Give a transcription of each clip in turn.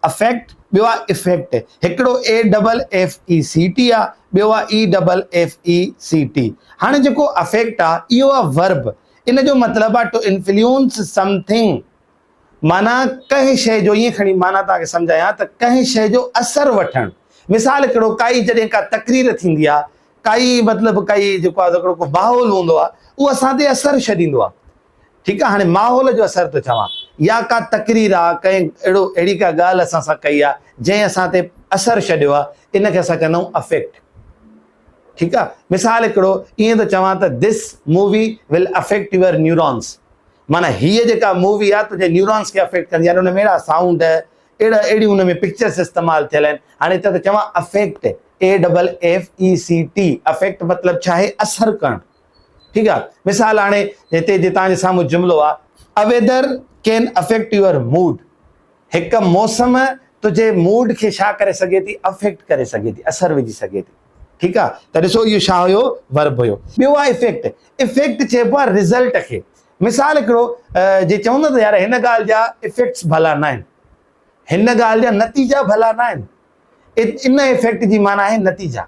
Effect, ٻيو آ Effect، هڪڙو A double F E C T آ، ٻيو آ A double F E C T. هاڻي جيڪو افيڪٽ آ، اهو آ Verb، ان جو مطلب آ ٽو انفليونس سم ٿنگ، معنيٰ ڪنهن شيء جو ائين کڻي معنيٰ توهان کي سمجهايان ته ڪنهن شيء جو اثر وٺڻ. مثال هڪڙو ڪائي جڏهن ڪا تقرير ٿيندي آ، ڪائي مطلب ڪائي جيڪو آ هڪڙو ڪو ماحول هوندو آ، اهو اسان تي اثر ڇڏيندو آ. ٺيڪ آ هاڻي ماحول جو اثر ٿو چوان يا ڪا تقرير آ ڪنهن اهڙو اهڙي ڪا ڳالهه اسان سان ڪئي آ جنهن اسان تي اثر ڇڏيو آ ان کي اسان چوندايون افيڪٽ ٺيڪ آ مثال هڪڙو ائين ٿو چوان ته this movie will affect your neurons معنی هيء جيڪا مووي آ تنهنجي نيورونس کي افيڪٽ ڪندي يعني ان ۾ اهڙا سائونڊ اهڙا اهڙي ان ۾ پڪچرس استعمال ٿيل آهن هاڻي هتي ته چوان affect A double F E C T affect مطلب ڇا آهي اثر ڪرڻ ٺيڪ آ مثال هاڻي هتي جي توهان جي سامهون جملو آ A weather can affect your mood هڪ موسم تنهنجي موڊ کي ڇا ڪري سگهي ٿي افيڪٽ ڪري سگهي ٿي اثر وجهي سگهي ٿي ٺيڪ آ ته ڏسو اهو ڇا هيو ورب هيو ٻيو آ افيڪٽ افيڪٽ چئبو آ رزلٽ کي مثال هڪڙو جي چوندا ته يار هن ڳالهه جا افيڪٽس ڀلا نه آهن هن ڳالهه جا نتيجا ڀلا نه آهن ان افيڪٽ جي معنيٰ آهي نتيجا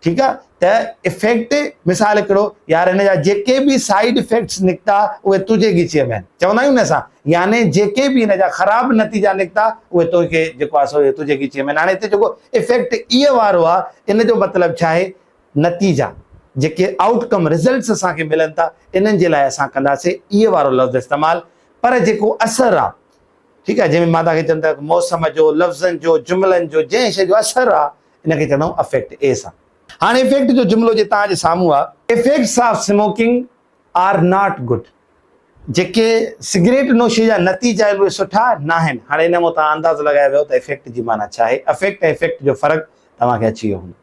ٺيڪ آ ته افيڪٽ مثال هڪڙو يار هن جا جيڪي به سائيڊ افيڪٽس نڪتا اهي تنهنجي ڳچيء ۾ چوندا آهيون نه اسان يعني جيڪي به هن جا خراب نتيجا نڪتا اهي تنهنجي جيڪو آ سو تنهنجي ڳچيء ۾ هاڻي هتي جيڪو افيڪٽ اي وارو آ ان جو مطلب ڇا آهي نتيجا جيڪي آئوٽ ڪم رزلٽس اسان کي ملن ٿا انهن جي لاء اسان ڪنداسي اي وارو لفظ استعمال پر جيڪو اثر آ ٺيڪ آ جنهن مان تان کي چوندو موسم جو لفظن جو جملن جو جنهن شي جو اثر آ ان کي چوندا آهيون افيڪٽ، اي سان. هاڻ افيڪٽ جو جملو جي توهان جي سامهون آ. Effects of smoking are not good, جيڪي سگريٽ نوشي جا نتيجا آهن اهي سٺا ناهن. هاڻ ان مان توهان اندازو لڳائي ويو ته افيڪٽ جي معنيٰ ڇا آهي. افيڪٽ ۽ افيڪٽ جو فرق توهان کي اچي ويو هوندو.